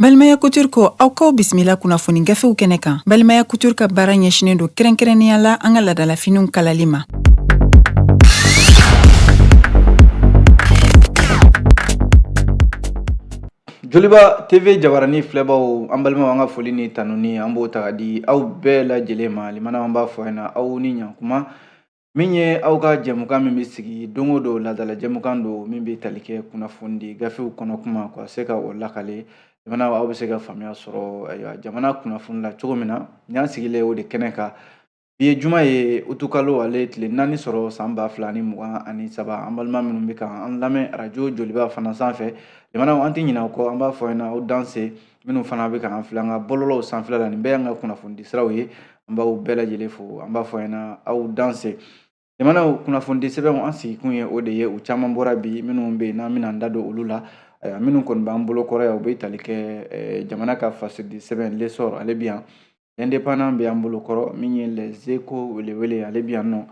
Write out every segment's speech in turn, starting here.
Balimaya Couture ko aw k'aw bisimila kunnafoni gafew kɛnɛ kan Balimaya Couture ka baara ɲɛsinen don kɛrɛnkɛrɛnnenya la an ka laadalafiniw kalali ma. Joliba TV jabaranin filɛbaaw an balimaw an ka foli ni tanuni an b'o ta ka di aw bɛɛ lajɛlen ma limanaw an b'a fɔ ɲɛna aw ni ɲankuma min ye aw ka jɛmukan min bɛ sigi don o don laadala jɛmukan don min bɛ tali kɛ kunnafoni di gafew kɔnɔ kuma ka se ka o lakale limana aw bɛ se ka faamuya sɔrɔ jamana kunnafoni la cogo min na nin y'an sigilen o de kɛnɛ kan Bi ye juma ye utukalo ale tile naani sɔrɔ san ba fila ni mugan ani saba an balima minnu bɛ ka an lamɛn radio Joliba fana sanfɛ limana an tɛ ɲinɛ aw kɔ an b'a fɔ ɲɛna aw danse minnu fana bɛ ka an filɛ an ka bɔlɔlɔw sanfɛla la nin bɛɛ y'an ka kunnafonidisiraw ye an b'aw bɛɛ lajɛlen fo an b'a fɔ ɲɛna aw danse Limanaw kunnafoni di sɛbɛnw an sigikun ye o de ye u caman bɔra bi minnu bɛ yen n'an bɛna an da don olu la ayiwa minnu kɔni b'an bolo kɔrɔ yan u bɛ tali kɛ jamana ka fasiri di sɛbɛn l'essor ale bɛ yan l'indépendant bɛ an bolo kɔrɔ min ye les échos welewele ale bɛ yan nɔ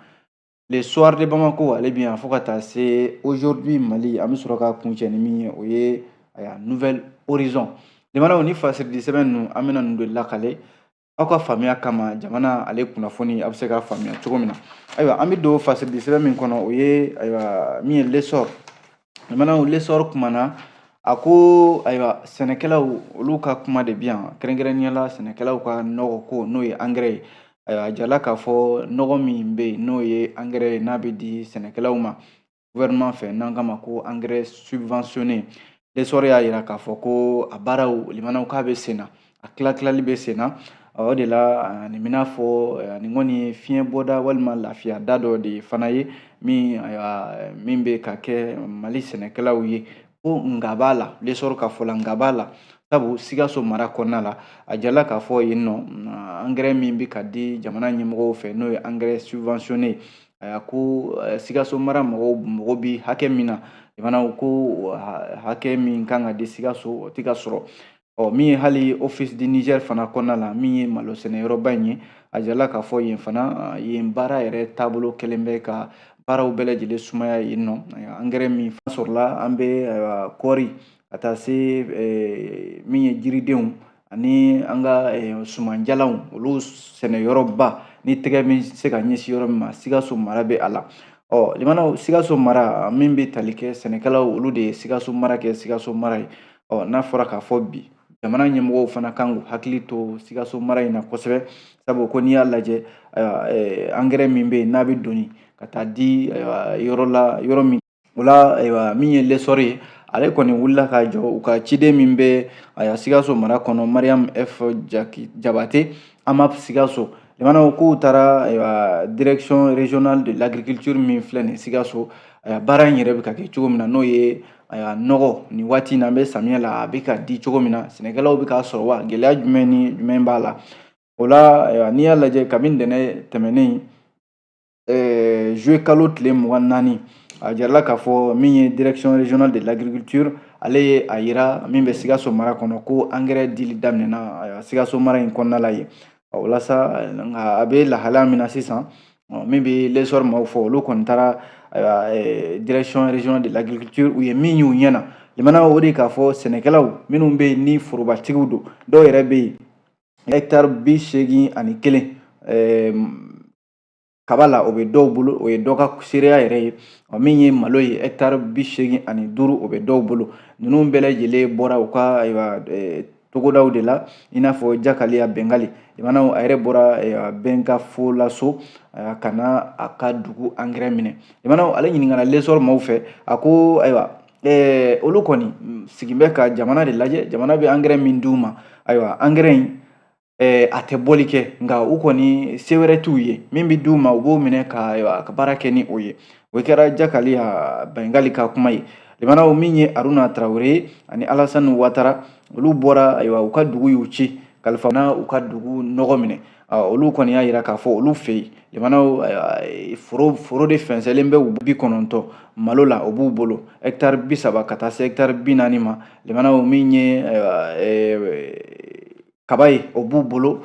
le soir de Bamako ale bɛ yan fo ka taa se aujourd'hui Mali an bɛ sɔrɔ ka kuncɛ ni min ye o ye ayiwa nouvel horizon limanaw ni fasiri di sɛbɛn ninnu an bɛna ninnu de lakale aw ka faamuya kama jamana ale kunnafoni a bɛ se ka faamuya cogo min na ayiwa an bɛ don fasiri di sɛbɛn min kɔnɔ o ye ayiwa min ye l'essor limanaw l'essor kumana a ko ayiwa sɛnɛkɛlaw olu ka kuma de bi yan kɛrɛnkɛrɛnnenya la sɛnɛkɛlaw ka nɔgɔ ko n'o ye angɛrɛ ye ayiwa a jirala k'a fɔ nɔgɔ min bɛ yen n'o ye angɛrɛ ye n'a bɛ di sɛnɛkɛlaw ma gouvernement fɛ n'an k'a ma ko engrais subventionné l'essor y'a jira k'a fɔ ko a baaraw limanaw k'a bɛ sen na a tila tilali bɛ sen na o de la nin bɛna fɔ nin kɔni ye fiɲɛ bɔda walima lafiya da dɔ de fana ye min bɛ ka kɛ mali sɛnɛkɛlaw ye ko nga b'a la l'essor ka fɔ la nga b'a la sabu sikaso mara kɔnɔna la a jirala k'a fɔ yen nɔ angɛrɛ min bɛ ka di jamana ɲɛmɔgɔw fɛ n'o ye angɛrɛ subventionné a ko sikaso mara mɔgɔw mago bɛ hakɛ min na limanaw ko hakɛ min kan ka di sikaso o tɛ ka sɔrɔ ɔ min ye hali office du Niger fana kɔnɔna la min ye malo sɛnɛyɔrɔba in ye a jirala k'a fɔ yen fana yen baara yɛrɛ taabolo kɛlen bɛ ka baaraw bɛɛ lajɛlen sumaya yen nɔ angɛrɛ min fana sɔrɔla an bɛ kɔɔri ka taa se min ye jiridenw ani an ka eh, sumanjalanw olu sɛnɛyɔrɔba ni tɛgɛ min se ka ɲɛsin yɔrɔ min ma sikaso mara bɛ a la ɔ limanaw sikaso mara min bɛ tali kɛ sɛnɛkɛlaw olu de ye sikaso mara kɛ sikaso mara ye ɔ n'a fɔra k'a fɔ bi jamana ɲɛmɔgɔw fana kan k'u hakili to sikaso mara in na kosɛbɛ sabu ko n'i y'a lajɛ ayiwa eh, angɛrɛ min bɛ yen n'a bɛ doni ka taa di ayiwa yɔrɔ la yɔrɔ min O la ayiwa min ye lɛsɔrɔ ye ale kɔni wulila k'a jɔ u ka ciden min bɛ a sikaso mara kɔnɔ mariam f jabate AMAP sikaso limanaw k'u taara ayiwa direction régionale de l'agriculture min filɛ nin sikaso ayiwa baara in yɛrɛ bɛ ka kɛ cogo min na n'o ye ayiwa nɔgɔ nin waati in na an bɛ samiyɛ la a bɛ ka di cogo min na sɛnɛkɛlaw bɛ k'a sɔrɔ wa gɛlɛya jumɛn ni jumɛn b'a la o la ayiwa n'i y'a lajɛ kabini ntɛnɛn tɛmɛnen ɛɛ juillet kalo tile mugan ni naani a jarala k'a fɔ min ye direction régionale de l'agriculture ale ye a yira min bɛ sikaso mara kɔnɔ ko angɛrɛ dili daminɛna sikaso mara in kɔnɔna la yen o la sa a bɛ lahalaya min na sisan min bɛ lesɔr maaw fɔ olu kɔni taara direction régionale de l'agriculture u ye min y'u ɲɛ na limana o de k'a fɔ sɛnɛkɛlaw minnu bɛ yen ni forobatigiw don dɔw yɛrɛ bɛ yen hɛkitari bi seegin ani kelen kaba la o bɛ dɔw bolo o ye dɔ ka seereya yɛrɛ ye ɔ min ye malo ye ɛkitari bi seegin ani duuru o bɛ dɔw bolo ninnu bɛɛ lajɛlen bɔra u ka ayiwa togodaw de la i n'a fɔ jakaliya bɛngali limanaw a yɛrɛ bɔra bɛnkafolaso ka na a ka dugu angɛrɛ minɛ limanaw ale ɲininkana lesɔrɔ maaw fɛ a ko ayiwa olu kɔni sigin bɛ ka jamana de lajɛ jamana bɛ angɛrɛ min d'u ma ayiwa angɛrɛ in a tɛ bɔli kɛ nka u kɔni se wɛrɛ t'u ye min bɛ d'u ma u b'o minɛ ka baara kɛ ni o ye o kɛra jakaliya bɛngali ka kuma ye limanaw min ye aruna tarawele ye ani alasani watara olu bɔra ayiwa u ka dugu y'u ci kalifa na u ka dugu nɔgɔ minɛ olu kɔni y'a jira k'a fɔ olu fɛ yen limanaw foro foro de fɛnsɛnlen bɛ u bi kɔnɔntɔn malo la o b'u bolo hɛkitari bi saba ka taa se hɛkitari bi naani ma limanaw min ye kaba ye o b'u bolo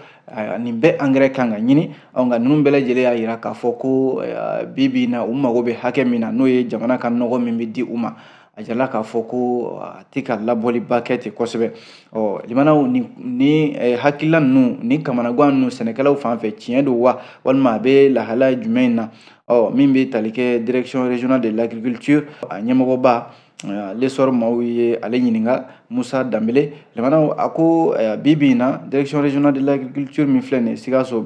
nin bɛɛ angɛrɛ kan ka ɲini nka ninnu bɛɛ lajɛlen y'a jira k'a fɔ ko bi bi in na u mago bɛ hakɛ min na n'o ye jamana ka nɔgɔ min bɛ di u ma a jirala k'a fɔ ko a tɛ ka labɔliba kɛ ten kosɛbɛ ɔ limanaw ni ni hakilila ninnu ni kamanagan ninnu sɛnɛkɛlaw fan fɛ tiɲɛ don wa walima a bɛ lahala jumɛn na ɔ min bɛ tali kɛ direction régionale de l'agriculture a ɲɛmɔgɔba lesɔrɔ maaw ye ale ɲininka musa danbele limanaw a ko bi bi in na direction régionale de l'agriculture min filɛ nin ye sikaso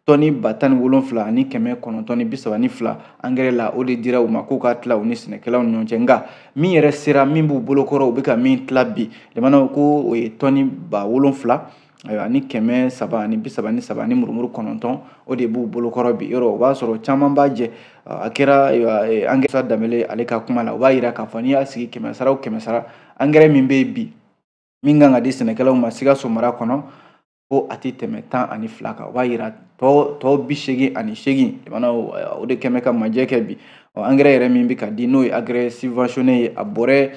tɔni ba tan ni wolonfila ani kɛmɛ kɔnɔntɔn ni bi saba ni fila angɛrɛ la o de dira u ma k'u ka tila u ni sɛnɛkɛlaw ni ɲɔgɔn cɛ nka min yɛrɛ sera min b'u bolokɔrɔ u bɛ ka min tila bi limanaw ko o ye tɔni ba wolonfila ayiwa ni kɛmɛ saba ni bi saba ni saba ni murumuru kɔnɔntɔn o de b'u bolokɔrɔ bi yɔrɔ o b'a sɔrɔ caman b'a jɛ a kɛra e, angɛrɛ danbele ale ka kuma la o b'a yira k'a fɔ n'i y'a sigi kɛmɛ sara o kɛmɛ sara angɛrɛ min bɛ yen bi min kan ka di sɛnɛkɛlaw ma sikaso mara kɔnɔ ko a tɛ tɛmɛ tan ani fila kan o b'a yira tɔ tɔ bi seegin ani seegin limanaw o de kɛmɛ ka majɛ kɛ bi ɔ angɛrɛ yɛrɛ min bɛ ka di n'o ye angɛrɛ subventionné ye a bɔrɛ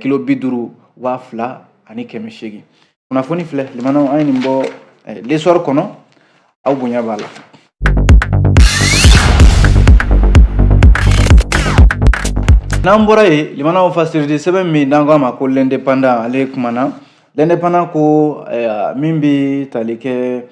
kilo bi duuru waa fila ani kɛmɛ seegin kunnafoni filɛ limanaw an ye nin bɔ lesɔri kɔnɔ aw bonya b'a la n'an bɔra yen limanaw fasiridi sɛbɛn min n'an ko a ma ko lɛndepandan ale kumana lɛndepandan ko min bɛ tali kɛ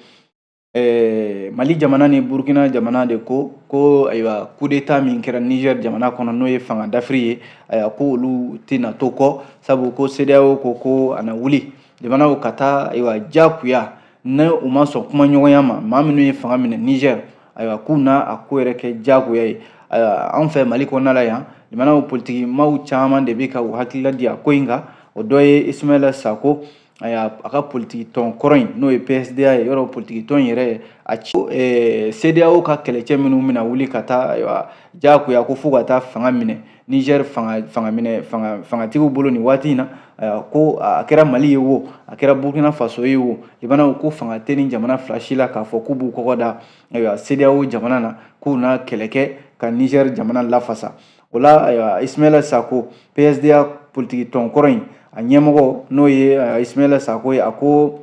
ɛɛ mali jamana ni burukina jamana de ko ko ayiwa kudeta min kɛra niger jamana kɔnɔ n'o ye fanga dafiri ye ayiwa ko olu tɛna to kɔ sabu ko sedeyawo ko ko a na wuli limanaw ka taa ayiwa jagoya ni u ma sɔn kumaɲɔgɔnya ma maa minnu ye fanga minɛ niger ayiwa k'u na a ko yɛrɛ kɛ jagoya ye ayiwa anw fɛ mali kɔnɔna la yan limanaw politiki maaw caman de bɛ ka u hakilila di a ko in kan o dɔ ye ismaila sako ayiwa a ka politiki tɔn kɔrɔ in n'o ye psda ye yɔrɔ politiki tɔn yɛrɛ ye a ci eh, sedeyawo ka kɛlɛcɛ minnu bɛna wuli ka taa ayiwa jagoya ko fo ka taa fanga minɛ niger fanga fanga minɛ fanga fangatigiw bolo nin waati in na ayiwa ko a kɛra mali ye wo a kɛra burkina faso ye wo limanaw ko fanga tɛ nin jamana fila si la k'a fɔ k'u b'u kɔgɔ da ayiwa sedeyawo jamana na k'u na kɛlɛ kɛ ka niger jamana lafasa o la ayiwa ismaila sako psda politiki tɔn kɔrɔ in a ɲɛmɔgɔ n'o ye ismaila sako ye a ko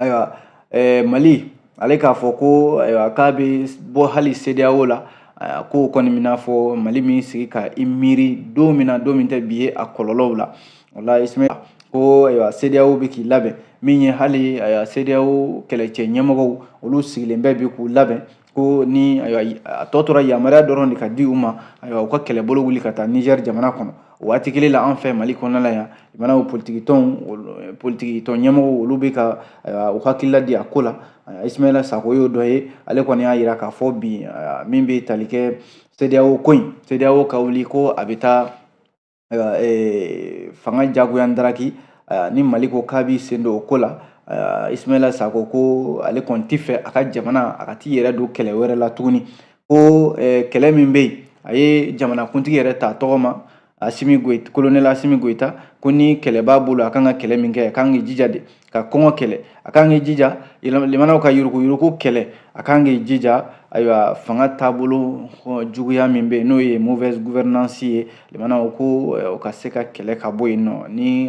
ayiwa eh, mali ale k'a fɔ ko ayiwa k'a bɛ bɔ hali sedeyawo la a ko kɔni b'i n'a fɔ mali m'i sigi ka i miiri don min na don min tɛ bi ye a kɔlɔlɔw la o la ismaila ko ayiwa sedeyawo bɛ k'i labɛn min ye hali ayiwa sedeyawo kɛlɛcɛ ɲɛmɔgɔw olu sigilen bɛ bi k'u labɛn ko ni a tɔ tora yamaruya dɔrɔn de ka di u ma ayiwa u ka kɛlɛbolo wuli ka taa nizɛri jamana kɔnɔ o waati kelen la an fɛ mali kɔnɔna la yan limanaw politikitɔnw politikitɔn ɲɛmɔgɔw olu bɛ ka u hakilila di a ko la ismaila sako y'o dɔ ye ale kɔni y'a jira k'a fɔ bi min bɛ tali kɛ sedeyawo ko in sedeyawo ka wuli ko a bɛ taa ayiwa ee, fanga jagoya daraki ni mali ko k'a b'i sen don o ko la ismaila sako ko ale kɔni tɛ fɛ a ka jamana a ka t'i yɛrɛ don kɛlɛ wɛrɛ la tuguni ko kɛlɛ min bɛ yen a ye jamanakuntigi yɛrɛ ta tɔgɔ ma kolonɛli asimi goyita ko ni kɛlɛ b'a bolo a kan ka kɛlɛ min kɛ a kan k'i jija de ka kɔngɔ kɛlɛ a kan k'i jija limanaw ka yuruku yuruku kɛlɛ a kan k'i jija ayiwa fanga taabolo juguya min bɛ yen n'o ye mauvaise gouvernance ye limanaw ko o ka se ka kɛlɛ ka bɔ yen nɔ ni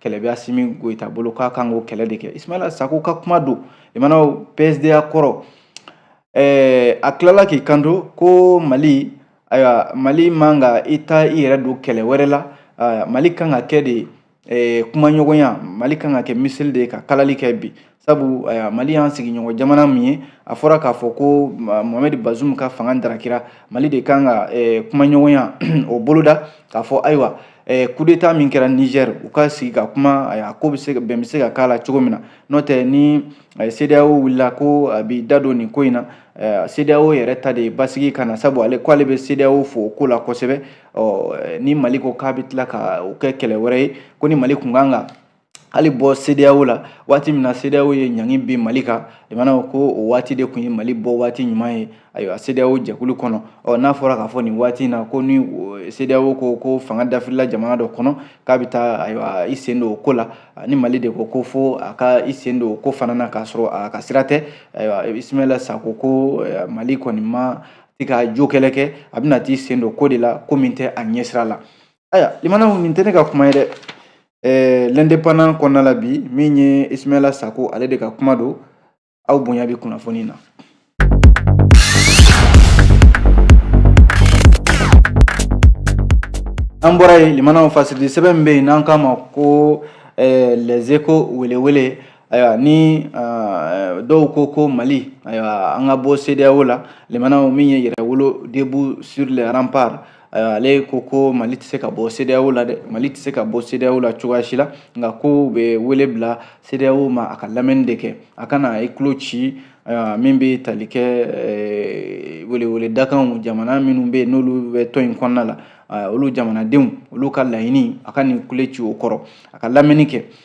kɛlɛ bɛ Asimi Goyita bolo k'a kan k'o kɛlɛ de kɛ Ismaila Sako ka kuma don limanaw PSDA kɔrɔ ɛɛ a tilala k'i kanto ko Mali ayiwa Mali man ka i ta i yɛrɛ don kɛlɛ wɛrɛ la Mali kan ka kɛ de eh, kumaɲɔgɔnya mali kan ka kɛ miseli de ye ka kalali kɛ bi sabu eh, mali y'an sigiɲɔgɔn jamana min ye a fɔra k'a fɔ ko mohamɛd bazum ka fanga darakira mali de kan ka eh, kumaɲɔgɔnya o boloda k'a fɔ ayiwa kudeta min kɛra niger u ka sigi ka kuma a ko bɛ se bɛn bɛ se ka k'a la cogo min na n'o tɛ ni sedeyawo wulila ko a b'i da don nin ko in na sedeyawo yɛrɛ ta de ye basigi ka na sabu ale ko ale bɛ sedeyawo fo o ko la kosɛbɛ ɔ ni mali ko k'a bɛ tila ka o kɛ kɛlɛ wɛrɛ ye ko ni mali kun kan ka hali bɔ sedeyawo la waati min na sedeyawo ye ɲangi bin mali kan limanaw ko o waati de tun ye mali bɔ waati ɲuman ye ayiwa sedeyawo jɛkulu kɔnɔ ɔ n'a fɔra k'a fɔ nin waati in na ko ni sedeyawo ko ko fanga dafirila jamana dɔ kɔnɔ k'a bɛ taa ayiwa i sen don o ko la ni mali de ko ko fo a ka i sen don o ko fana na k'a sɔrɔ a ka sira tɛ ayiwa ismaila sako ko mali kɔni ma t'i ka jo kɛlɛ kɛ a bɛna t'i sen don ko de la ko min tɛ a ɲɛsira la ayiwa limanaw nin tɛ ne ka kuma ye dɛ ɛɛ l'indépendant kɔnɔna la bi min ye ismaila sako ale de ka kuma don aw bonya bɛ kunnafoni na an bɔra yen limanaw fasiri sɛbɛn min bɛ yen n'an k'a ma ko les échos welewele ayiwa ni dɔw ko ko mali ayiwa an ka bɔ sedeyawo la limanaw min ye yɛrɛwolo debout sur les remparts ayiwa ale ko ko mali tɛ se ka bɔ sedeyawo la dɛ mali tɛ se ka bɔ sedeyawo la cogoya si la nka k'u bɛ wele bila sedeyawo ma a ka lamɛnni de kɛ a kana i tulo ci ayiwa min bɛ tali kɛ welewele dakanw jamana minnu bɛ yen n'olu bɛ tɔn in kɔnɔna la olu jamanadenw olu ka laɲini a kana i tulo ci o kɔrɔ a ka lamɛnni kɛ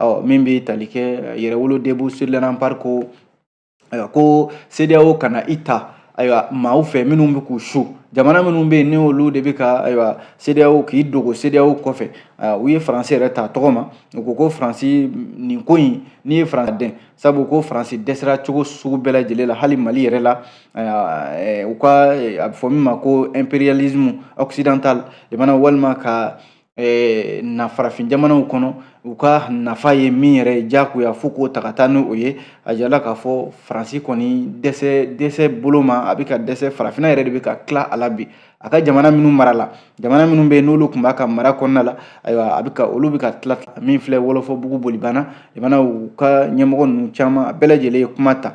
ɔ min bɛ tali kɛ eh, yɛrɛwolo debout sur les remparts ko ayiwa ko sedeyawo kana i ta ayiwa maaw fɛ minnu bɛ k'u su jamana minnu bɛ yen ni olu de bɛ ka ayiwa sedeyawo k'i dogo sedeyawo kɔfɛ u ye faransi yɛrɛ ta tɔgɔ ma u ko ko faransi nin ko in n'i ye faransi dɛn sabu ko faransi dɛsɛra cogo sugu bɛɛ lajɛlen la hali mali yɛrɛ la u ka a bɛ fɔ min ma ko impérialisme occidental jamana walima ka eh, na farafin jamanaw kɔnɔ u ka nafa ye min yɛrɛ ye jagoya fo k'o ta ka taa ni o ye a jirala k'a fɔ faransi kɔni dɛsɛ dɛsɛ bolo ma a bɛ ka dɛsɛ farafinna yɛrɛ de bɛ ka tila a la bi a ka jamana minnu mara la jamana minnu bɛ yen n'olu tun b'a ka mara kɔnɔna la ayiwa a bɛ ka olu bɛ ka tila min filɛ wɔlɔfɔbugu bolibana jamanaw ka ɲɛmɔgɔ ninnu caman a bɛɛ lajɛlen ye kuma ta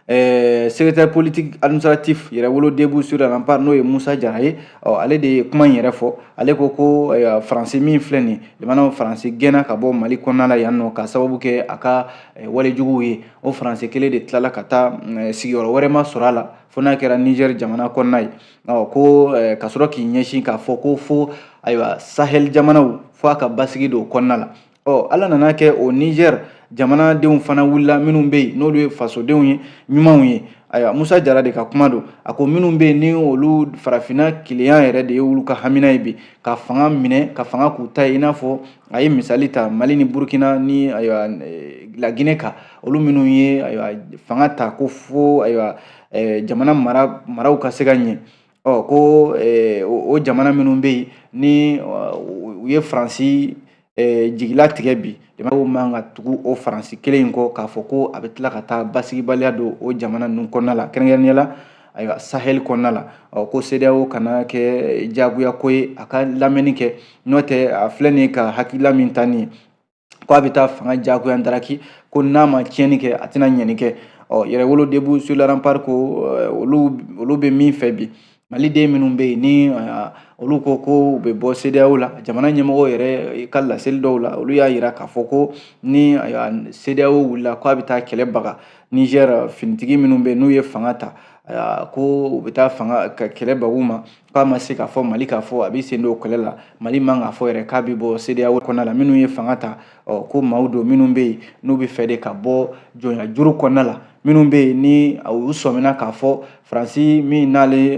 Eh, secrétaire politique administratif yɛrɛwolo debout sur les remparts n'o ye musa jara ye ɔ ale de ye kuma in yɛrɛ fɔ ale ko ko eh, faransi min filɛ nin jamana faransi gɛnna ka bɔ mali kɔnɔna la yan nɔ ka sababu kɛ a ka eh, walejuguw ye o faransi kelen de tilala ka taa mm, sigiyɔrɔ wɛrɛ ma sɔrɔ a la fo n'a kɛra nizɛri jamana kɔnɔna ye ɔ ko ka sɔrɔ k'i ɲɛsin k'a fɔ ko fo ayiwa sahɛli jamanaw fo a ka basigi don kɔnɔna la ɔ ala nana kɛ o nizɛri jamanadenw fana wulila minnu bɛ yen n'olu ye fasodenw ye ɲumanw ye ayiwa musa jara de ka kuma don a ko minnu bɛ yen ni olu farafinna kelenya yɛrɛ de ye olu ka hamina ye bi ka fanga minɛ ka fanga k'u ta ye i n'a fɔ a ye misali ta mali ni burukina ni ayiwa eh, lagine kan olu minnu ye ayiwa fanga ta ko fo ayiwa eh, jamana mara maraw ka se ka ɲɛ ɔ ko o jamana minnu bɛ yen ni u ye faransi jigila tigɛ bi jamana man ka tugu o faransi kelen in kɔ k'a fɔ ko a bɛ tila ka taa basigibaliya don o jamana ninnu kɔnɔna la kɛrɛnkɛrɛnnenya la ayiwa sahel kɔnɔna la ɔ ko CEDEAO kana kɛ jagoya ko ye a ka lamɛnni kɛ n'o tɛ a filɛ nin ye ka hakilila min ta nin ye ko a bɛ taa fanga jagoya ndaraki ko n'a ma tiɲɛni kɛ a tɛna ɲɛni kɛ ɔ yɛrɛwolo debout sur les remparts ko olu olu bɛ min fɛ bi maliden minnu bɛ yen ni olu ko ko u bɛ bɔ CEDEAO la jamana ɲɛmɔgɔw yɛrɛ ka laseli dɔw la olu y'a jira k'a fɔ ko ni CEDEAO wulila k'a bɛ taa kɛlɛ baga Niger finitigi minnu bɛ yen n'u ye fanga ta ko u bɛ taa fanga ka kɛlɛ baga u ma k'a ma se k'a fɔ mali k'a fɔ a bɛ sen don kɛlɛ la mali man k'a fɔ yɛrɛ k'a bɛ bɔ CEDEAO kɔnɔna la minnu ye fanga ta ɔ ko maaw don minnu bɛ yen n'u b'a fɛ de ka bɔ jɔnyajuru kɔnɔna la minnu bɛ yen ni u sɔmina k'a fɔ faransi min n'ale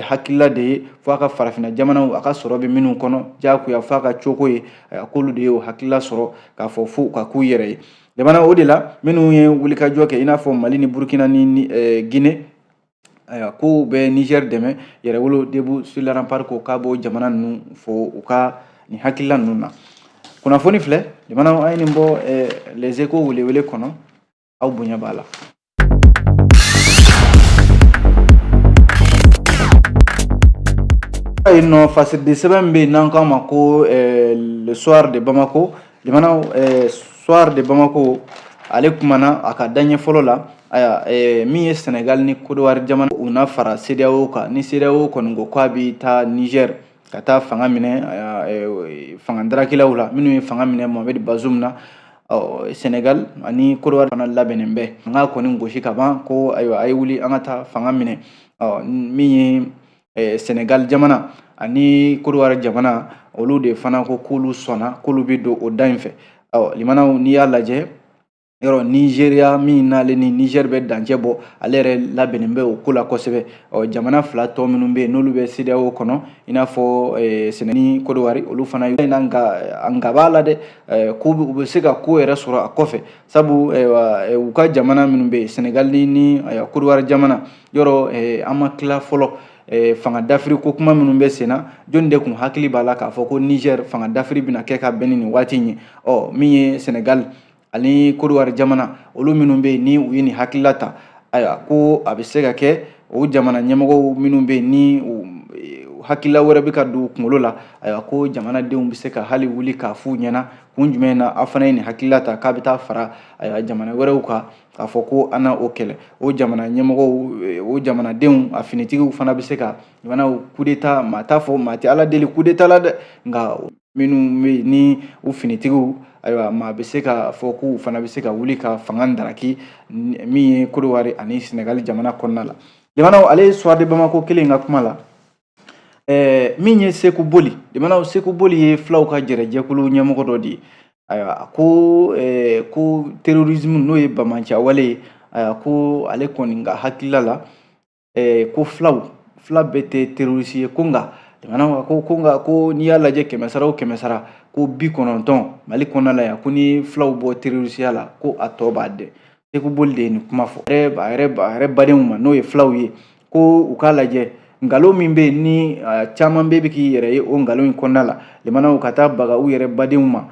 hakilila de ye fo a ka farafinna jamanaw a ka sɔrɔ bɛ minnu kɔnɔ diyagoya fo a ka cogo ye k'olu de ye o hakilila sɔrɔ k'a fɔ fo ka k'u yɛrɛ ye jamana o de la minnu ye wulikajɔ kɛ i n'a fɔ mali ni burukina ni guinée ayiwa k'u bɛ nizɛri dɛmɛ yɛrɛwolo debout sur les remparts ko k'a b'o jamana ninnu fo u ka nin hakilila ninnu na kunnafoni filɛ jamanaw an ye nin bɔ eh, les échos welewele kɔnɔ aw bonya b'a la yen nɔ fasidisɛbɛn min bɛ yen n'an k'a ma ko eh, le soir de bamako limanaw eh, soir de bamako ale kumana a ka daɲɛ fɔlɔ la ayiwa eh, min ye senegal ni kodowari jamana u na fara cedeao kan ni cedeao kɔni ko k'a bi taa niger ka taa fanga minɛ eh, fanga darakilaw la minnu ye fanga minɛ mohamed bazoum na ɔ senegal ani kodowari fana labɛnnen bɛ an ka kɔni gosi ka ban ko ayiwa a ye wuli an ka taa fanga minɛ ɔ min ye eh, Senegal jamana ani Kodowari jamana olu de fana ko k'olu sɔnna k'olu bɛ don o da in fɛ ɔ limanaw n'i y'a lajɛ yɔrɔ nizeriya min n'ale ni nizɛri bɛ dancɛ bɔ ale yɛrɛ labɛnnen bɛ o ko la kosɛbɛ ɔ jamana fila tɔ minnu bɛ yen n'olu bɛ sedeyawo kɔnɔ i n'a fɔ eh, sɛnɛgali ni kodowari olu fana yɔrɔ in na nka nka b'a la dɛ eh, ko u bɛ se ka ko yɛrɛ sɔrɔ a kɔfɛ sabu eh, u ka jamana minnu bɛ yen sɛnɛgali ni kodowari jamana yɔrɔ eh, an ma tila fɔlɔ eh, fanga dafiri ko kuma minnu bɛ sen na jɔni de tun hakili b'a la k'a fɔ ko niger fanga dafiri bɛna kɛ ka bɛn ni nin waati in ye ɔ min ye senegal ani kodowari jamana olu minnu bɛ yen ni u ye nin hakilila ta ayiwa ko a bɛ se ka kɛ o jamana ɲɛmɔgɔw minnu bɛ yen ni u hakilila wɛrɛ bɛ ka don u kunkolo la ayiwa ko jamanadenw bɛ se ka hali wuli k'a f'u ɲɛna kun jumɛn na aw fana ye nin hakilila ta k'a bɛ taa fara ayiwa jamana wɛrɛw kan k'a fɔ ko an na o kɛlɛ o jamana ɲɛmɔgɔw o jamanadenw a finitigiw fana bɛ se ka fana kudeta maa t'a fɔ maa tɛ ala deli kudeta la dɛ nka minnu bɛ yen ni u finitigiw ayiwa maa bɛ se k'a fɔ k'u fana bɛ se ka wuli ka fanga daraki min ye kodowari ani sɛnɛgali jamana kɔnɔna la limanaw ale ye soir de bamako kelen ka kuma la Ɛɛ min ye seku boli limanaw seku boli ye fulaw ka jɛrɛjɛkulu ɲɛmɔgɔ dɔ de ye ayiwa ko ko terorisimu n'o ye banbaanciya wale ye ko ale kɔni ka hakilila la ko fulaw fila bɛɛ tɛ terorisi ye ko nka jamana ko ko nka ko n'i y'a lajɛ kɛmɛsara o kɛmɛsara ko bi kɔnɔntɔn mali kɔnɔna la yan ko ni fulaw bɔ terorisiya la ko a tɔ b'a dɛ seku boli de ye nin kuma fɔ a yɛrɛ badenw ma n'o ye fulaw ye ko u k'a lajɛ nkalon min bɛ yen ni caman bɛ k'i yɛrɛ ye o nkalon in kɔnɔna la limanaw ka taa baga u yɛrɛ badenw ma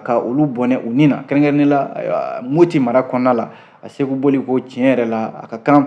ka olu bɔnɛ u ni na kɛrɛnkɛrɛnnen la moti mara kɔnɔna la a seku boli ko tiɲɛ yɛrɛ la a ka kan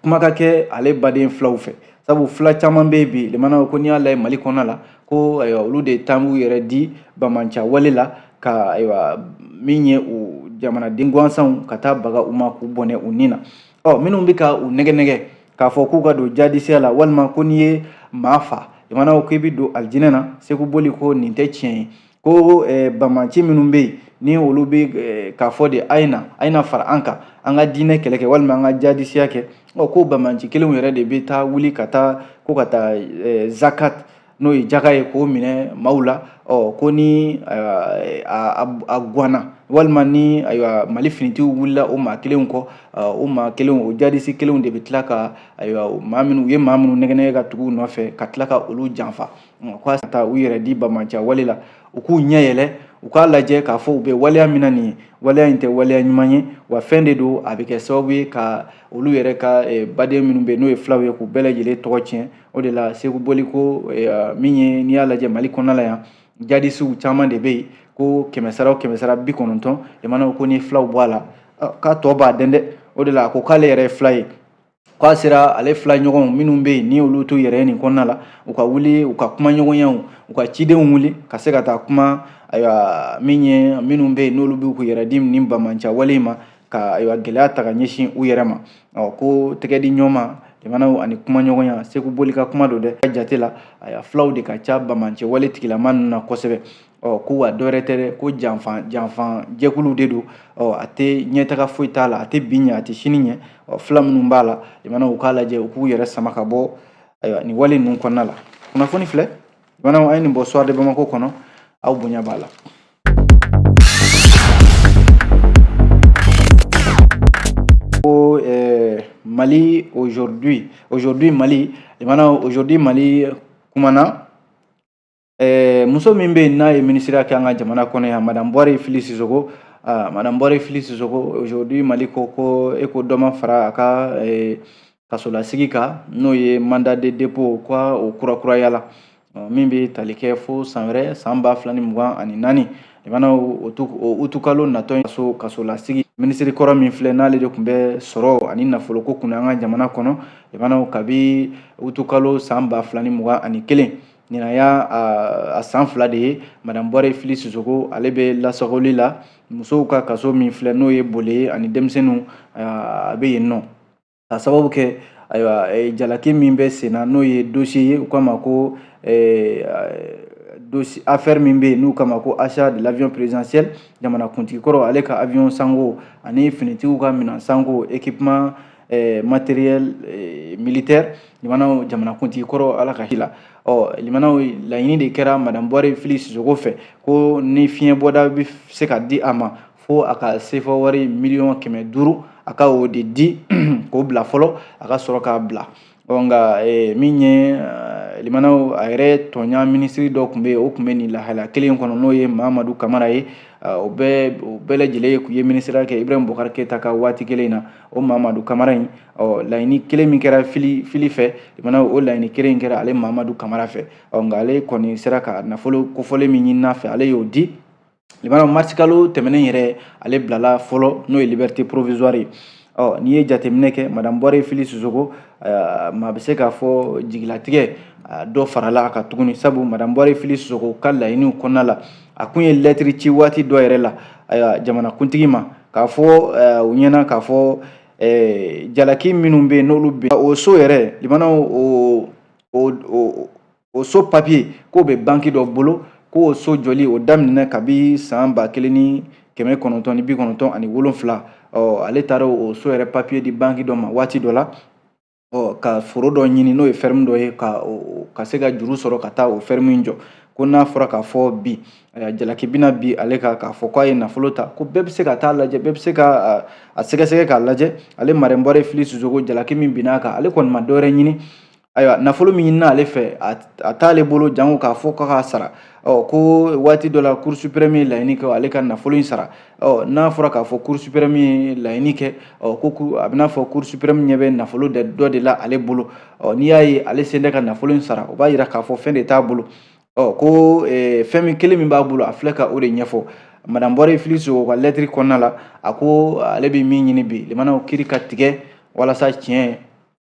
kuma ka kɛ ale baden filaw fɛ sabu fila caman bɛ bi limanaw ko n'i y'a lajɛ mali kɔnɔna la ko ayiwa olu de taa b'u yɛrɛ di banbaanciya wale la ka ayiwa min ye u jamanaden gansanw ka taa baga u ma k'u bɔnɛ u ni na ɔ minnu bɛ ka u nɛgɛn nɛgɛn k'a fɔ k'u ka don jadisiya la walima ko n'i ye maa fa limanaw k'i bɛ don alijinɛ na seku boli ko nin tɛ tiɲɛ ye ko eh, banbaanci minnu bɛ yen ni olu bɛ eh, k'a fɔ de a ye na a ye na fara an kan an ka diinɛ kɛlɛ kɛ walima an ka jadisiya kɛ ɔ ko banbaanci kelenw yɛrɛ de bɛ taa wuli ka taa ko ka taa eh, zakat n'o ye jaka ye k'o minɛ maaw la ɔ ko ni a gwanna walima ni ayiwa mali finitigiw wulila o maa kelenw kɔ o maa kelen o jadisi kelenw de bɛ tila ka ayiwa maa minnu u ye maa minnu nɛgɛnɛgɛ ka tugu u nɔfɛ ka tila ka olu janfa ka taa u yɛrɛ di banbaanciya wale la u k'u ɲɛ yɛlɛ u k'a lajɛ k'a fɔ u bɛ waleya min na nin ye waleya in tɛ waleya ɲuman ye wa fɛn de don a bɛ kɛ sababu ye ka olu yɛrɛ ka baden minnu bɛ yen n'o ye fulaw ye k'u bɛɛ lajɛlen tɔgɔ tiɲɛ o de la seku boli ko eh, min ye n'i y'a lajɛ mali kɔnɔna la yan jadisiw caman de bɛ yen ko kɛmɛ sara o kɛmɛ sara bi kɔnɔntɔn lamɛnnaw ko ni filaw bɔ a la k'a tɔ b'a dɛn dɛ o de la a ko k'ale yɛrɛ ye fila ye k'a sera ale fila ɲɔgɔnw minnu bɛ yen ni olu t'u yɛrɛ nin kɔnɔna la u ka wuli u ka kumaɲɔgɔnyaw u ka cidenw wuli ka se ka taa kuma ayiwa min ye minnu bɛ yen n'olu bɛ k'u yɛrɛ di nin banbaanciya wale in ma ka ayiwa gɛlɛya ta ka ɲɛsin u yɛrɛ ma ɔ ko tɛgɛdiɲɔgɔnma lamɛnnaw ani kumaɲɔgɔnya seku boli ka kuma don dɛ a ka jate la ayiwa fulaw de ka ca banbaanciya wale tigilama ninnu na kosɛbɛ ɔ ko wa dɔwɛrɛ tɛ dɛ ko janfan janfan jɛkuluw de don ɔ a tɛ ɲɛtaga foyi t'a la a tɛ bi ɲɛ a tɛ sini ɲɛ ɔ fila minnu b'a la lamɛnnaw u k'a lajɛ u k'u yɛrɛ sama ka bɔ ayiwa nin wale ninnu kɔnɔna la kunnafoni filɛ lamɛnnaw an ye nin bɔ soir de bamako kɔnɔ aw bonya b'a la Ko eh, Mali aujourd'hui aujourd'hui Mali lamɛnnaw aujourd'hui Mali kumana eh, muso min bɛ n'a ye minisiriya kɛ an ka jamana kɔnɔ yan madame Bɔre Fili Sisoko ah, madame Bɔre Fili Sisoko aujourd'hui Mali ko ko e ko dɔ ma fara a ka eh, kasolasigi kan n'o ye mandat de dépôt ko o kurakurayala min bɛ tali kɛ fo san wɛrɛ san ba fila ni mugan ani naani lamɛnnaw utikalo natɔ in kaso kasolasigi minisiri kɔrɔ min filɛ n'ale de tun bɛ sɔrɔ ani nafoloko kunna an ka jamana kɔnɔ lamɛnnaw kabi utikalo san ba fila ni mugan ani kelen nin y'a san fila de ye madame bɔre fili sisoko ale bɛ lasagoli la musow ka kaso min filɛ n'o ye bole ye ani denmisɛnninw a bɛ yen nɔ ka sababu kɛ ayiwa eh, jalaki min bɛ sen na n'o ye dosiye ye u k'a ma ko eh, dosi affaire min bɛ yen n'u k'a ma ko achat de l'avion présidentiel jamana kuntigi kɔrɔ ale ka avion sango ani finitigiw ka minɛn sango équipement eh, matériel eh, militaire lamɛnnaw jamanakuntigi kɔrɔ ala ka hin'a la ɔ lamɛnnaw laɲini de kɛra madame bɔre fili sisoko fɛ ko ni fiɲɛbɔda bɛ se ka di a ma fo a ka sefa wari miliyɔn kɛmɛ duuru a ka o de di k'o bila fɔlɔ a ka sɔrɔ k'a bila nka e, min ye e, limanaw a yɛrɛ tɔɲɔgɔn minisiri dɔ tun bɛ yen o tun bɛ nin lahala kelen kɔnɔ n'o ye mamadu kamara ye o bɛɛ o bɛɛ lajɛlen tun ye minisiriya kɛ ibrahim bubakari keyita ka waati kelen in na o mamadu kamara in ɔ laɲini kelen min kɛra fili fili fɛ limanaw o laɲini kelen in kɛra ale mamadu kamara fɛ ɔ nka ale kɔni sera ka nafolo kofɔlen min ɲinina a fɛ ale y'o di limanaw marisikalo tɛmɛnen yɛrɛ ale bilala fɔlɔ n'o ye liberté provisoire ye ɔ n'i ye jateminɛ kɛ madame bɔre fili sisoko maa bɛ se k'a fɔ jigilatigɛ dɔ farala a kan tuguni sabu madame bɔre fili sisoko ka laɲiniw kɔnɔna la a kun ye lɛtiri ci waati dɔ yɛrɛ la ayiwa jamanakuntigi ma k'a fɔ u ɲɛna k'a fɔ jalaki minnu bɛ yen n'olu bɛ o so yɛrɛ limanaw o o o so papiye k'o bɛ banki dɔ bolo ko o so jɔli o daminɛ kabi san ba kelen ni kɛmɛ kɔnɔntɔn ni bi kɔnɔntɔn ani wolonfila ale taara o so yɛrɛ papiye di banki dɔ ma waati dɔ la ka foro dɔ ɲini n'o ye fɛrɛmu dɔ ye ka ka se ka juru sɔrɔ ka taa o fɛrɛmu in jɔ ko n'a fɔra k'a fɔ bi jalaki bɛna bin ale kan k'a fɔ k'a ye nafolo ta ko bɛɛ bɛ se ka taa a lajɛ bɛɛ bɛ se ka a sɛgɛsɛgɛ k'a lajɛ ale madame bɔre fili sisoko jalaki min binna a kan ale kɔni ma dɔwɛrɛ ɲini ayiwa nafolo min ɲinina ale fɛ a t'ale bolo jango k'a fɔ k'a k'a sara ɔ ko waati dɔ la cour supreme ye laɲini kɛ ale ka nafolo in sara ɔ n'a fɔra k'a fɔ cour supreme ye laɲini kɛ ɔ ko a bɛ n'a fɔ cour supreme ɲɛ bɛ nafolo dɔ de la ale bolo ɔ n'i y'a ye ale sen tɛ ka nafolo in sara o b'a yira k'a fɔ fɛn de t'a bolo ɔ ko fɛn min kelen min b'a bolo a filɛ ka o de ɲɛfɔ madame bɔre fili sisoko ka lɛtiri kɔnɔna la a ko ale bɛ min ɲini bi limanaw kiiri ka tigɛ walasa tiɲɛ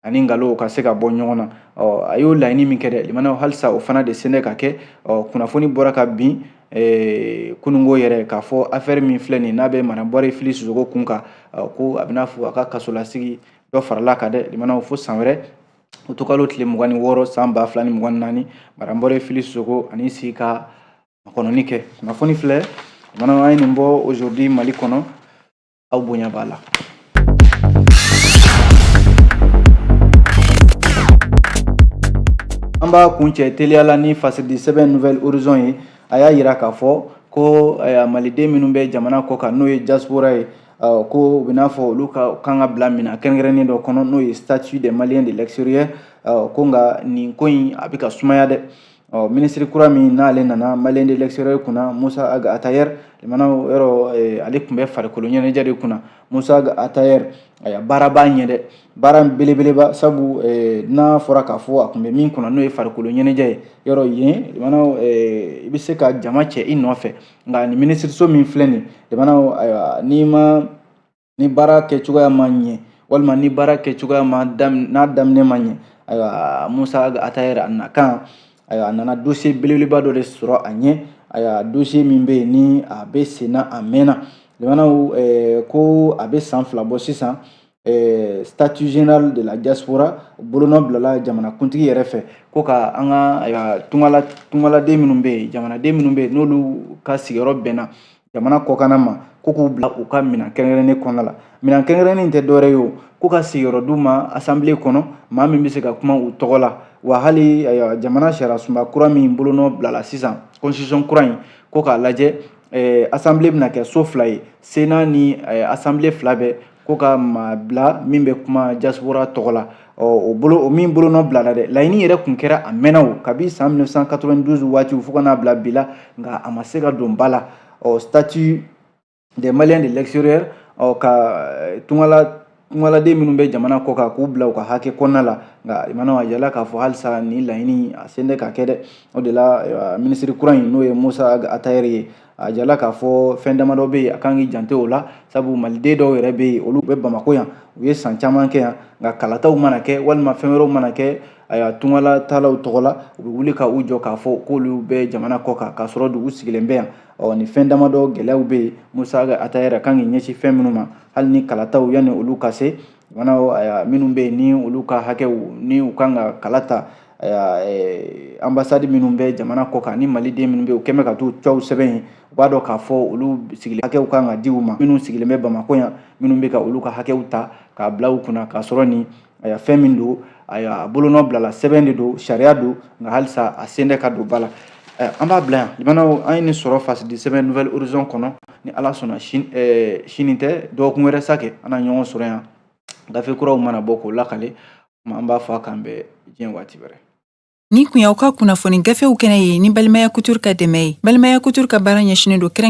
ani nkalonw ka se ka bɔ ɲɔgɔn na ɔ a y'o laɲini min kɛ dɛ limanaw halisa o fana de sen tɛ ka kɛ ɔ kunnafoni bɔra kabini Eh, kununko yɛrɛ k'a fɔ afɛri min filɛ nin n'a bɛ madame bɔre fili sisoko kun kan ko a bɛ n'a fɔ a ka kasolasigi dɔ farala a kan dɛ limanaw fo san wɛrɛ utikalo tile mugan ni wɔɔrɔ san ba fila ni mugan ni naani madame bɔre fili sisoko a n'i sigi ka makɔnɔni kɛ kunnafoni filɛ limanaw an ye nin bɔ aujourd'hui mali kɔnɔ aw bonya b'a la an b'a kuncɛ teliya la ni fasidi sɛbɛn nouvel horizon ye a y'a yira k'a fɔ ko eh, maliden minnu bɛ jamana kɔ kan n'o ye diaspora ye eh, ko u bɛ n'a fɔ olu ka kan ka bila minɛn kɛrɛnkɛrɛnnen dɔ kɔnɔ n'o ye statut des maliens de l'extérieur eh, ko nka nin ko in a bɛ ka sumaya dɛ ɔ minisiri kura min n'ale nana maliens de l'extérieur kunna musa aga atayɛri lamɛnnaw yɔrɔ eh, ale tun bɛ farikolo ɲɛnajɛ de kunna musa aga atayɛri ayiwa baara b'a ɲɛ dɛ baara belebeleba sabu eh, n'a fɔra k'a fɔ a tun bɛ min kunna n'o ye farikolo ɲɛnajɛ ye yɔrɔ yen lamɛnnaw eh, i bɛ se ka jama cɛ i nɔfɛ nka nin minisiriso min filɛ nin lamɛnnaw ayiwa n'i ma ni baara kɛ cogoya ma ɲɛ walima ni baara kɛ cogoya n'a daminɛ ma ɲɛ ayiwa musa atayɛri a nakan ayiwa a nana dossier belebeleba dɔ de sɔrɔ a ɲɛ ayiwa dossier min bɛ yen ni a bɛ senna a mɛnna lamɛnnaw eh, ko a bɛ san fila bɔ sisan eh, statut général de la diaspora bolonɔ bilala jamanakuntigi yɛrɛ fɛ ko ka an ka tungala tungaladen minnu bɛ yen jamanaden minnu bɛ yen n'olu ka sigiyɔrɔ bɛnna jamana kɔkanna ma ko k'u bila u ka minɛn kɛrɛnkɛrɛnnen kɔnɔna la minɛn kɛrɛnkɛrɛnnen tɛ dɔwɛrɛ ye o ko ka sigiyɔrɔ d'u ma asanbile kɔnɔ maa min bɛ se ka kuma u tɔgɔ la wa hali jamana sariyasunba kura min bolonɔ bilala sisan constitution kura in ko k'a lajɛ asanbile bɛna kɛ so fila ye sena ni asanbile fila bɛɛ ko ka maa bila min bɛ kuma diaspora tɔgɔ la o bolo o min bolonɔ bilala dɛ laɲini yɛrɛ kun kɛra a mɛnna o kabi san 1992 waatiw fo ka n'a bila bi la nka a ma se ka don ba la ɔ statut des maliens de l'extérieur ɔ ka eh, tungala tungaladen minnu bɛ jamana kɔ kan k'u bila u ka hakɛ kɔnɔna la nka lamɛnnaw a yirala k'a fɔ halisa nin laɲini a sen tɛ ka kɛ dɛ o de la eh, minisiri kura in n'o ye musa atayɛri ye a jirala k'a fɔ fɛn damadɔ bɛ yen a kan k'i janto o la sabu maliden dɔw yɛrɛ bɛ yen olu bɛ bamakɔ yan u ye san caman kɛ yan nka kalataw mana kɛ walima fɛn wɛrɛw mana kɛ ayiwa tungala taalaw tɔgɔ la u bɛ wuli ka u jɔ k'a fɔ k'olu bɛ jamana kɔ kan k'a sɔrɔ dun u sigilen bɛ yan ɔ ni fɛn damadɔ gɛlɛyaw bɛ yen musa atayɛri kan k'i ɲɛsin fɛn minnu ma hali ni kalataw yanni olu ka se jamana minnu bɛ yen ni olu ka hakɛw ni u kan ka kala ta eh, anbasadi minnu bɛ jamana kɔ kan ni maliden minnu bɛ yen u kɛmɛ ka t'u cɛw sɛbɛn yen u b'a dɔn k'a fɔ olu sigilen hakɛw kan ka di u ma minnu sigilen bɛ bamakɔ yan minnu bɛ ka olu ka hakɛw ta k'a bila u kunna k'a sɔrɔ nin eh, fɛn min don a bolonɔ bilala sɛbɛn de don sariya don nka halisa a sen tɛ ka don ba la eh, an b'a bila yan lamɛnnaw an ye nin sɔrɔ fasidi sɛbɛn nouvel horizon kɔnɔ ni ala sɔnna sini tɛ dɔgɔkun wɛrɛ sa kɛ an na ɲɔgɔn sɔrɔ yan gafe kuraw mana bɔ k'o lakali kuma an b'a fɔ a k'an bɛn diɲɛ waati wɛrɛ nin tun y'aw ka kunnafoni gafew kɛnɛ ye ni balimaya couture ka dɛmɛ ye balimaya couture ka baara ɲɛsinnen don kɛrɛnkɛ